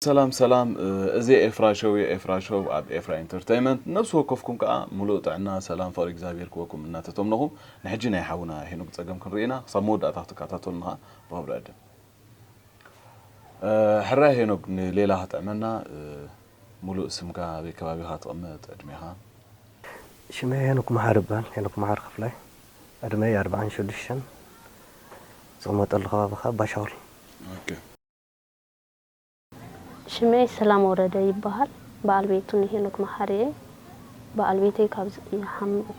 ሰላም ሰላም እዚ ኤፍራ ሾው እዩ ኤፍራ ሾው ኣብ ኤፍራ ኢንተርቴይመንት ነብሲ ወከፍኩም ከዓ ሙሉእ ጥዕና ሰላም ፍቅሪ እግዚኣብሔር ክወኩም እናተተምነኹ ንሕጂ ናይ ሓውና ሄኖክ ፀገም ክንርኢ ኢና ክሳብ መወዳእታ ክትከታተሉና ብክብሪ ዕድም ሕራይ ሄኖግ ንሌላ ከጥዕመና ሙሉእ ስምካ ኣበይ ከባቢካ ትቅመጥ ዕድሜካ። ሽመይ ሄኖክ መሓሪ ይበሃል ሄኖክ መሓሪ ክፍላይ ዕድመይ ኣርብዓን ሽዱሽተን ዝቅመጠሉ ከባቢ ከኣ ባሻውል። ሽመይ ሰላም ወረደ ይበሃል በኣል ቤቱ ንሄኖክ መሓሪ እየ በኣል ቤተይ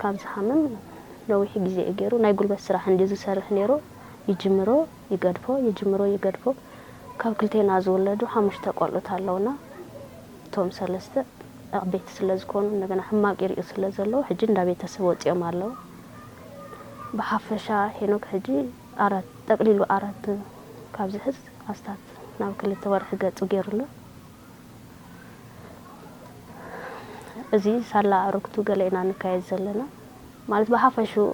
ካብ ዝሓምም ነዊሕ ግዜ እዩ ጌሩ ናይ ጉልበት ስራሕ እንድዩ ዝሰርሕ ኔሩ ይጅምሮ ይገድፎ ይጅምሮ ይገድፎ ካብ ክልቴና ዝውለዱ ሓሙሽተ ቆልዑት ኣለውና እቶም ሰለስተ ዓበይቲ ስለ ዝኮኑ እንደገና ሕማቅ ይሪኡ ስለ ዘለዉ ሕጂ እንዳ ቤተሰብ ወጺኦም ኣለዉ ብሓፈሻ ሄኖክ ሕጂ ኣራት ጠቅሊሉ ኣራት ካብ ዝሕዝ ኣስታት ናብ ክልተ ወርሒ ገጹ ጌሩ ኣሎ። እዚ ሳላ ኣዕሩክቱ ገለ ኢና ንካየድ ዘለና። ማለት ብሓፈሽኡ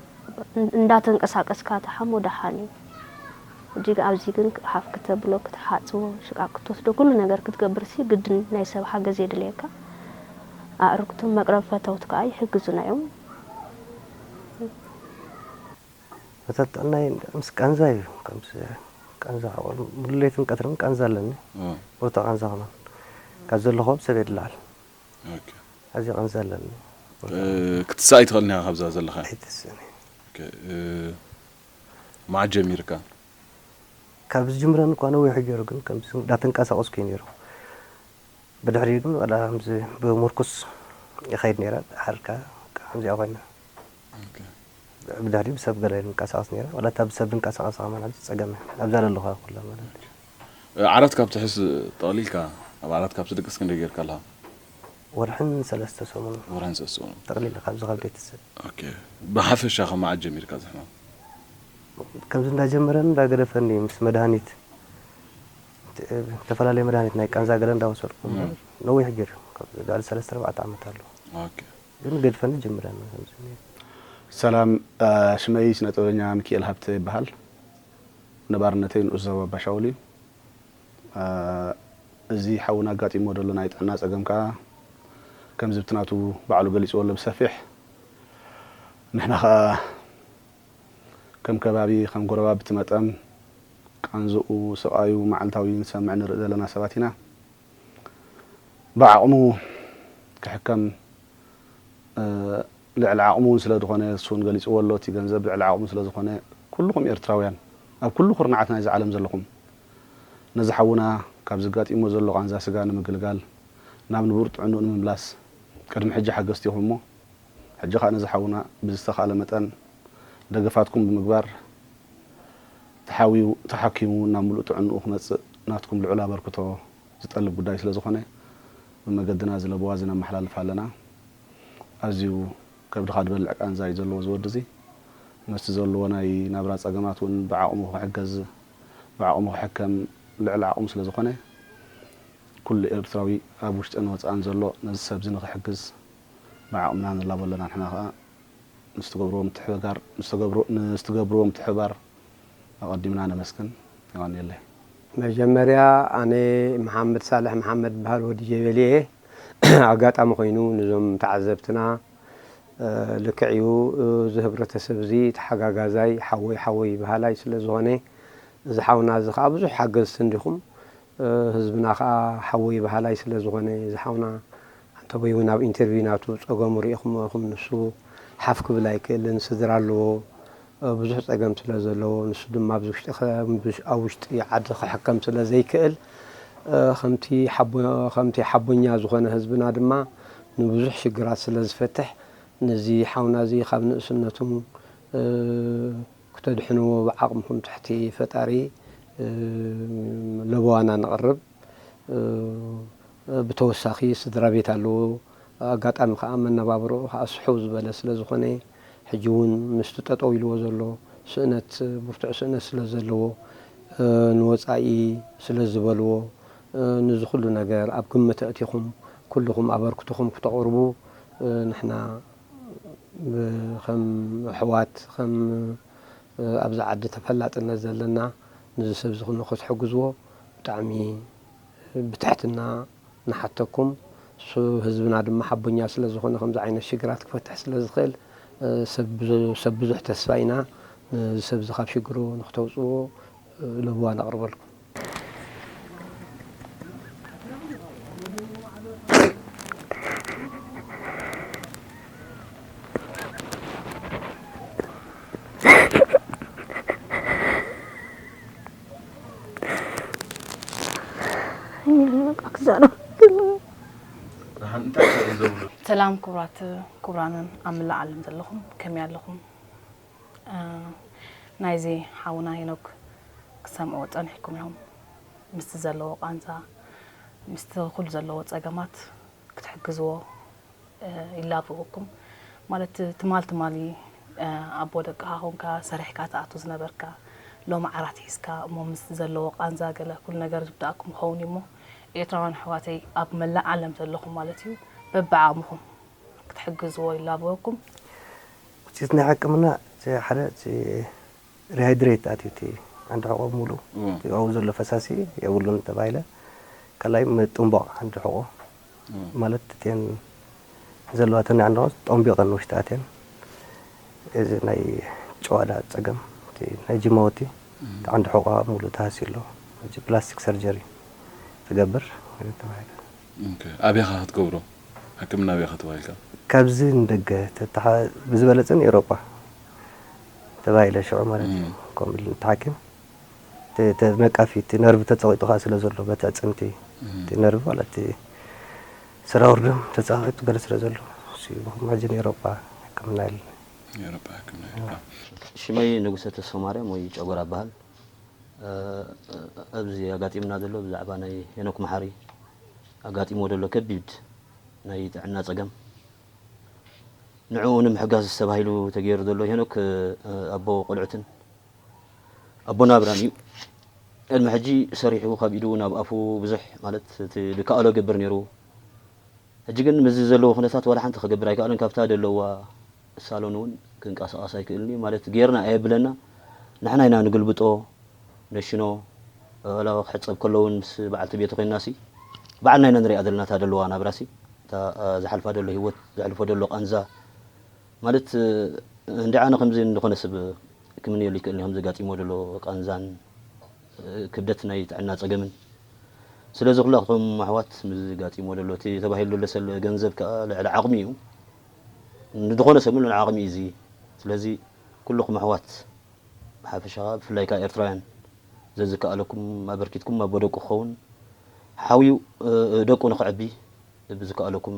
እንዳተንቀሳቀስካ ትሓሞ ደሓን እዩ። ሕጂ ግን ኣብዚ ግን ሓፍ ክተብሎ ክትሓጽቦ ሽቃቅ ክትወስዶ ኩሉ ነገር ክትገብርሲ ግድን ናይ ሰብ ሓገዝ የድልየካ። ኣዕሩክቱን መቅረቢ ፈተውት ከኣ ይሕግዙና እዮም። ተጠጠናይ ምስ ቃንዛ እዩ ከምዚ ቃንዛ ሓቆል ሙሉ ለይትን ቀትርን ቃንዛ ኣለኒ ብርቱ ቃንዛ ከማን ካብ ዘለኹ ኣብ ሰበይ ድለዓል ኦኬ ኣዚ ቃንዛ ኣለኒ ክትስእ ኣይትኽእልን ኢኻ ካብዛ ዘለኻ ኣይትስእን መዓስ ጀሚርካ ካብ ዝጅምረን እኳ ነዊሑ ገይሩ ግን ከምዚ እንዳተንቀሳቀስኩ እዩ ነይሩ ብድሕሪ ግን ዋላ ከምዚ ብሙርኩስ ይኸይድ ነይረ ሓርካ ከምዚኣ ኮይና ብዳዲ ብሰብ ገለ ንንቀሳቀስ ነይረ ዋላ እታ ብሰብ ድንቀሳቀስ ከማን ሐዚ ጸገም እያ ኣብዛ ደለኩ ኣይኮላን ማለት እዩ። ዓራት ካብ ትሕዝ ጠቅሊልካ ኣብ ዓራት ካብ ትድቅስ ክንደይ ጌርካ ኣለካ? ወርሕን ሰለስተ ሰሙንን። ወርሕን ሰለስተ ሰሙንን። ጠቅሊለ ካብዚ ካብ ቤተሰብ። ኦኬ ብሓፈሻ ካብ መዓስ ጀሚርካ እዚ ሕማም? ከምዚ እንዳ ጀመረን እንዳ ገደፈን እዩ ምስ መድሃኒት ዝተፈላለየ መድሃኒት ናይ ቃንዛ ገለ እንዳ ወሰድኩ እምበር ነዊሕ ጌሩ እዩ ልዕሊ ሰለስተ ኣርባዕተ ዓመት ኣሎ። ኦኬ። ግን ገድፈና ጀምረና ከምዚ ኔሩ። ሰላም ሽመይ ስነ ጥበበኛ ምኪኤል ሃብተ ይበሃል ነባርነተይ ንኡስ ዞባ ኣባሻውል እዩ እዚ ሓውና ኣጋጢምዎ ደሎ ናይ ጥዕና ጸገም ከኣ ከምዚ ብቲ ናቱ ባዕሉ ገሊጽዎ ኣሎ ብሰፊሕ ንሕና ከኣ ከም ከባቢ ከም ጎረባብቲ መጠን ቃንዝኡ ስቓዩ መዓልታዊ ንሰምዕ ንርኢ ዘለና ሰባት ኢና። ብዓቕሙ ክሕከም ልዕሊ ዓቕሙ ውን ስለ ዝኾነ ንሱ ውን ገሊጽዎ ኣሎ እቲ ገንዘብ ልዕሊ ዓቕሙ ስለ ዝኾነ ኩሉኹም ኤርትራውያን ኣብ ኩሉ ኩርናዓት ናይዛ ዓለም ዘለኹም ነዚ ሓውና ካብዚ ኣጋጢምዎ ዘሎ ቃንዛ ስጋ ንምግልጋል ናብ ንቡር ጥዕንኡ ንምምላስ ቅድሚ ሕጂ ሓገዝቲ ኢኹም እሞ ሕጂ ከኣ ነዚ ሓውና ብዝተኻእለ መጠን ደገፋትኩም ብምግባር ተሓውዩ ተሓኪሙ ናብ ምሉእ ጥዕንኡ ክመጽእ ናትኩም ልዑል ኣበርክቶ ዝጠልብ ጉዳይ ስለ ዝኾነ ብመገድና እዚ ለበዋ እዚ ነመሓላልፍ ኣለና። ኣዝዩ ከብድኻ ድበልዕ ቃንዛ እዩ ዘለዎ እዚ ወዲ እዚ። ምስቲ ዘለዎ ናይ ናብራ ጸገማት እውን ብዓቕሙ ክሕገዝ ብዓቕሙ ክሕከም ልዕሊ ዓቕሙ ስለ ዝኾነ ኩሉ ኤርትራዊ ኣብ ውሽጥን ወጻእን ዘሎ ነዚ ሰብ እዚ ንኽሕግዝ ብዓቕምና ንላቦ ኣለና ንሕና ከኣ ምስ ትገብርዎ ምትሕብጋር ምስ ትገብርዎ ምትሕብባር ኣቀዲምና ነመስግን። የቀንየለይ። መጀመርያ ኣነ መሓመድ ሳልሕ መሓመድ እበሃል ወዲ ጀበሊ እየ ኣጋጣሚ ኮይኑ ንዞም ተዓዘብትና ልክዕ እዩ እዚ ህብረተሰብ እዚ ተሓጋጋዛይ ሓወይ ሓወይ በሃላይ ስለ ዝኾነ እዚ ሓውና እዚ ከኣ ብዙሕ ሓገዝቲ እንዲኹም ህዝብና ከኣ ሓወይ በሃላይ ስለ ዝኾነ እዚ ሓውና ኣንተቦይ ውን ኣብ ኢንተርቪው ናቱ ጸገሙ ሪኢኩሞ ኢኩም ንሱ ሓፍ ክብል ኣይክእልን ስድራ ኣለዎ ብዙሕ ጸገም ስለ ዘለዎ ንሱ ድማ ኣብዚ ውሽጢ ኣብ ውሽጢ ዓዲ ክሕከም ስለ ዘይክእል ከምቲ ከምቲ ሓቦኛ ዝኮነ ህዝብና ድማ ንብዙሕ ሽግራት ስለ ዝፈትሕ ነዚ ሓውና እዚ ካብ ንእስነቱ ክተድሕንዎ ብዓቅምኩም ትሕቲ ፈጣሪ ለበዋና ነቅርብ። ብተወሳኺ ስድራቤት ኣለዎ፣ ኣጋጣሚ ከኣ መነባብሮኡ ከኣ ስሕው ዝበለ ስለ ዝኾነ ሕጂ እውን ምስቲ ጠጠው ኢልዎ ዘሎ ስእነት ብርቱዕ ስእነት ስለ ዘለዎ ንወጻኢ ስለ ዝበልዎ ንዚ ኩሉ ነገር ኣብ ግምት ኣእቲኹም ኩሉኹም ኣበርክቶኹም ክተቕርቡ ንሕና ከም ኣሕዋት ከም ኣብዚ ዓዲ ተፈላጥነት ዘለና ንዚ ሰብዚ ክትሕግዝዎ ብጣዕሚ ብትሕትና ንሓተኩም ህዝብና ድማ ሓቦኛ ስለ ዝኾነ ከምዚ ዓይነት ሽግራት ክፈትሕ ስለ ዝኽእል ሰብ ብዙሕ ተስፋ ኢና ነዚ ሰብ እዚ ካብ ሽግሩ ንክተውጽዎ ለበዋ ነቕርበልኩም። ሰላም ክቡራት ክቡራንን ኣብ መላእ ዓለም ዘለኹም ከመይ ኣለኹም? ናይዚ ሓውና ሄኖክ ክሰምዕዎ ጸኒሕኩም ኢኹም ምስቲ ዘለዎ ቃንዛ ምስቲ ኩሉ ዘለዎ ጸገማት ክትሕግዝዎ ይላበወኩም ማለት ትማል ትማሊ ኣቦ ደቅካ ኮንካ ሰሪሕካ ትኣቱ ዝነበርካ ሎሚ ዓራት ሒዝካ እሞ ምስቲ ዘለዎ ቃንዛ ገለ ኩሉ ነገር ዝብዳኣኩም ይኸውን እዩ እሞ ኤርትራውያን ኣሕዋተይ ኣብ መላእ ዓለም ዘለኹም ማለት እዩ በብዓቅምኹም ክትሕግዝዎ ይላበወኩም። ውጽኢት ናይ ሕክምና እቲ ሓደ እቲ ሪሃይድሬት ኣትዩ እቲ ዓንዲ ሕቆ ሙሉእ እቲ ኣብኡ ዘሎ ፈሳሲ የብሉን ተባሂለ ካልኣይ ምጥንቧቅ ዓንዲ ሕቆ ማለት እተን ዘለዋ እተን ናይ ዓንዳቆ ጠንቢቀን ውሽጢ ኣትየን እዚ ናይ ጭዋዳ ጸገም እቲ ናይ ጅማውቲ እቲ ዓንዲ ሕቆኣ ሙሉእ ተሃስዩ ኣሎ ሕጂ ፕላስቲክ ሰርጀሪ ትገብር ተባሂላ። ኦኬ ኣበይካ ክትገብሮ ሕክምና ኣበይካ ተባሂልካ? ካብዚ ንደገ ብዝበለጸ ንኤሮጳ ተባሂለ ሽዑ ማለት እዩ ከምኡ ኢሉኒ እቲ ሓኪም። ተነቃፊ እቲ ነርቭ ተጸቒጡካ ስለ ዘሎ በቲ ኣዕጽምቲ እቲ ነርቭ ዋላ እቲ ሰራውር ደም ተጸቓቒጡ ገለ ስለ ዘሎ እሱ'ዩ ብኩማጅን ኤሮጳ ሕክምና የለን። ኤውሮጳ ሕክምና የለን። ሽመይ ንጉሰ ተስፎማርያም ወይ ጨጎራ እበሃል። ኣብዚ ኣጋጢሙና ዘሎ ብዛዕባ ናይ ሄኖክ መሓሪ ኣጋጢምዎ ዘሎ ከቢድ ናይ ጥዕና ጸገም ንዕኡ ንምሕጋዝ ተባሂሉ ተገይሩ ዘሎ ሄኖክ ኣቦ ቆልዑትን ኣቦና ኣብራም እዩ ቅድሚ ሕጂ ሰሪሑ ካብ ኢዱ ናብ ኣፉ ብዙሕ ማለት እቲ ዝከኣሎ ይገብር ነይሩ ሕጂ ግን ምስዚ ዘለዎ ኩነታት ዋላ ሓንቲ ክገብር ኣይከኣለን ካብታ ዘለዋ ሳሎን እውን ክንቀሳቐስ ኣይክእልን እዩ ማለት ጌርና ኣየብለና ንሕና ኢና ንግልብጦ ነሽኖ ዋላ ክሕጸብ ከሎ እውን ምስ በዓልቲ ቤቱ ኮይናሲ በዓልና ኢና ንሪኣ ዘለና እታ ዘለዋ ናብራሲ እታ ዝሓልፋ ዘሎ ህይወት ዘሕልፎ ዘሎ ቃንዛ ማለት እንድዒ ኣነ ከምዚ ንዝኾነ ሰብ ክምነየሉ ይክእልኒ ከምዚ ኣጋጢምዎ ዘሎ ቃንዛን ክብደት ናይ ጥዕና ጸገምን ስለዚ ኩላትኩም ኣሕዋት ምስዚ ኣጋጢምዎ ዘሎ እቲ ተባሂሉ ዘሎ ሰለ ገንዘብ ክኣ ልዕሊ ዓቅሚ እዩ ንዝኾነ ሰብ ልዕሊ ዓቅሚ እዩ እዚ ስለዚ ኩሉኩም ኣሕዋት ብሓፈሻ ክኣ ብፍላይ ክኣ ኤርትራውያን ዘዝከኣለኩም ኣበርኪትኩም ኣቦ ደቁ ክኸውን ሓውዩ ደቁ ንከዕቢ ብዝከኣለኩም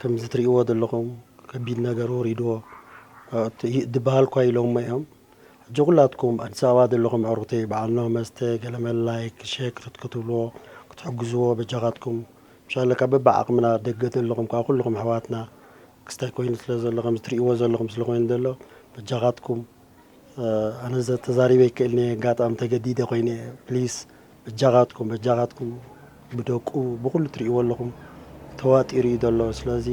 ከምዚ ትሪእዎ ዘለኹም ከቢድ ነገር ወሪድዎ ድበሃል እኳ ኢሎሞ እዮም ሕጂ ኩላትኩም ኣዲስ ኣበባ ዘለኹም ኣዕሩኽተይ በዓል ኖህ መስተ ገለመል ላይክ ሼክ ክትብልዎ ክትሕግዝዎ በጃኻትኩም ምሻለካ በብዓቕምና ኣብ ደገ ዘለኹም ከኣ ኩልኹም ኣሕዋትና ክስታይ ኮይኑ ስለ ዘሎ ከምዚ ትሪእዎ ዘለኹም ስለ ኮይኑ ዘሎ በጃኻትኩም ኣነ ተዛሪበ ኣይክእልንየ ኣጋጣሚ ተገዲደ ኮይነ ፕሊስ በጃኻትኩም በጃኻትኩም ብደቁ ብኹሉ ትርእይዎ ኣለኹም ተዋጢሩ እዩ ዘሎ ስለዚ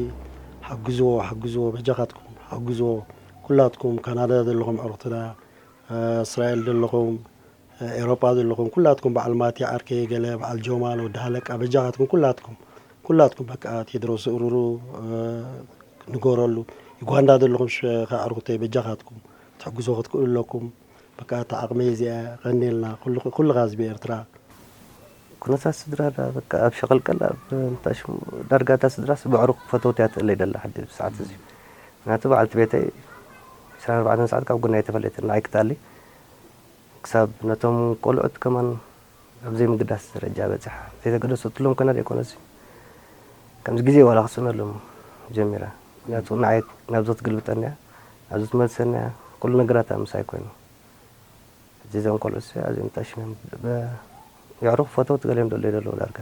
ሓግዝዎ ሓግዝዎ በጃኻትኩም ሓግዝዎ ኩላትኩም ካናዳ ዘለኹም ኣዕሩኽትና እስራኤል ዘለኹም ኤሮጳ ዘለኹም ኩላትኩም በዓል ማቲ ዓርከይ ገለ በዓል ጆማል ወዲ ሃለቃ በጃኻትኩም ኩላትኩም ኩላትኩም በቃ ቴድሮስ ዝእርሩ ንገረሉ ዩጋንዳ ዘለኹም ኣዕሩኽተይ በጃኻትኩም ትሕግዞ ክትክእሉ ኣለኩም በቃ እታ ዓቕመይ እዚኣ እያ ቀንየልና ኩሉ ኩሉ ህዝቢ ኤርትራ። ኩነታት ስድራ ድኣ በቃ ኣብ ሸቐልቀል ኣብ እንታይ ሽሙ ዳርጋ እታ ስድራስ በዕሩኽ ፈተውቲ እያ ትእለይ ዘላ ሕጂ ኣብዚ ሰዓት እዚ ምኽንያቱ በዓልቲ ቤተይ ዕስራን ኣርባዕተን ሰዓት ካብ ጎኒ ኣይተፈለየትን ንዓይ ክትኣሊ ክሳብ ነቶም ቆልዑት ከማን ኣብ ዘይምግዳስ ደረጃ በጺሓ። ዘይተገደሰትሎም ከና ዘይኮነሲ ከምዚ ግዜ ዋላ ክጽዕነሎም ጀሚረ። ምክንያቱ ንዓይ ናብዚ ክትግልብጠኒ እያ፣ ናብዚ ክትመልሰኒ እያ፣ ኩሉ ነገራታ ምሳይ ኮይኑ። ሕጂ እዞም ቆልዑትሲ ኣዝዮም ጠሺኖም። የዕሩኽ ፈተውቲ ገሊኦም ዶ ኣለዩ ዘለዉ ዳርጋ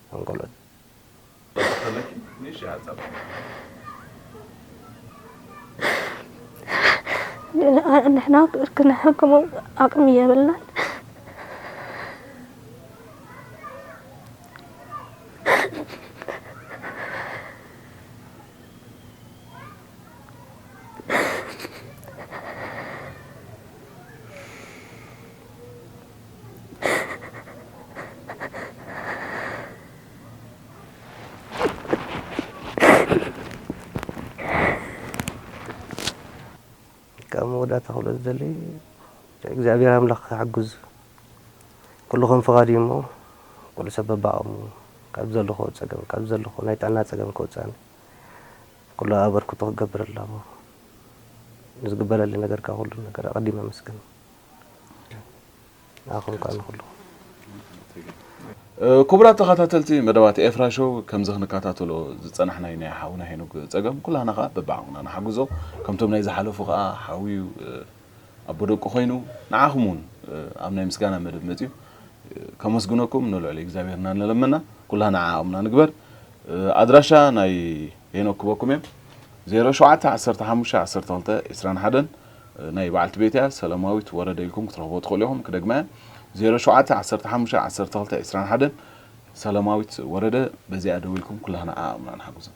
እዞም ቆልዑት። ንሕና ክንሕክሞ ኣቅሚ የብልናን። ካብ መወዳእታ ክብሎ ዝደሊ እግዚኣብሔር ኣምላኽ ክሕግዝ ኩልኹም ፍቓድ እዩ እሞ ኩሉ ሰብ በባቕሙ ካብ ዘለኹ ፀገም ካብ ዘለኹ ናይ ጥዕና ፀገም ክወፅኣኒ ኩሉ ኣበርክቶ ክገብር ኣለዎ ንዝግበረሊ ነገር ካብ ኩሉ ነገር ኣቐዲመ ኣመስግን ኩቡራት ተኻታተልቲ መደባት ኤፍራ ሾው ከምዚ ክንካታተሎ ዝጸናሕናዩ ናይ ሓውና ሄኖግ ጸገም ኩላህና ከኣ በብዓቕምና ንሓግዞ ከምቶም ናይ ዝሓለፉ ከኣ ሓውዩ ኣቦ ደቁ ኮይኑ ንዓኹም ውን ኣብ ናይ ምስጋና መደብ መጽዩ ከመስግነኩም ንልዑል እግዚኣብሔርና ንለመና ኩላህና ዓቕምና ንግበር ኣድራሻ ናይ ሄኖክ ክበኩም እየ 07 15 12 21 ናይ በዓልቲ ቤት እያ ሰለማዊት ወረደ ኢልኩም ክትረኽብዎ ትኽእሉ ኢኹም ክደግማ እየ ዜሮ ሸውዓተ ዓሰርተ ሓሙሽተ ዓሰርተ ክልተ ዕስራን ሓደን ሰለማዊት ወረደ በዚኣ ደዊልኩም ኩላህና ዓቕምና ንሓግዞም።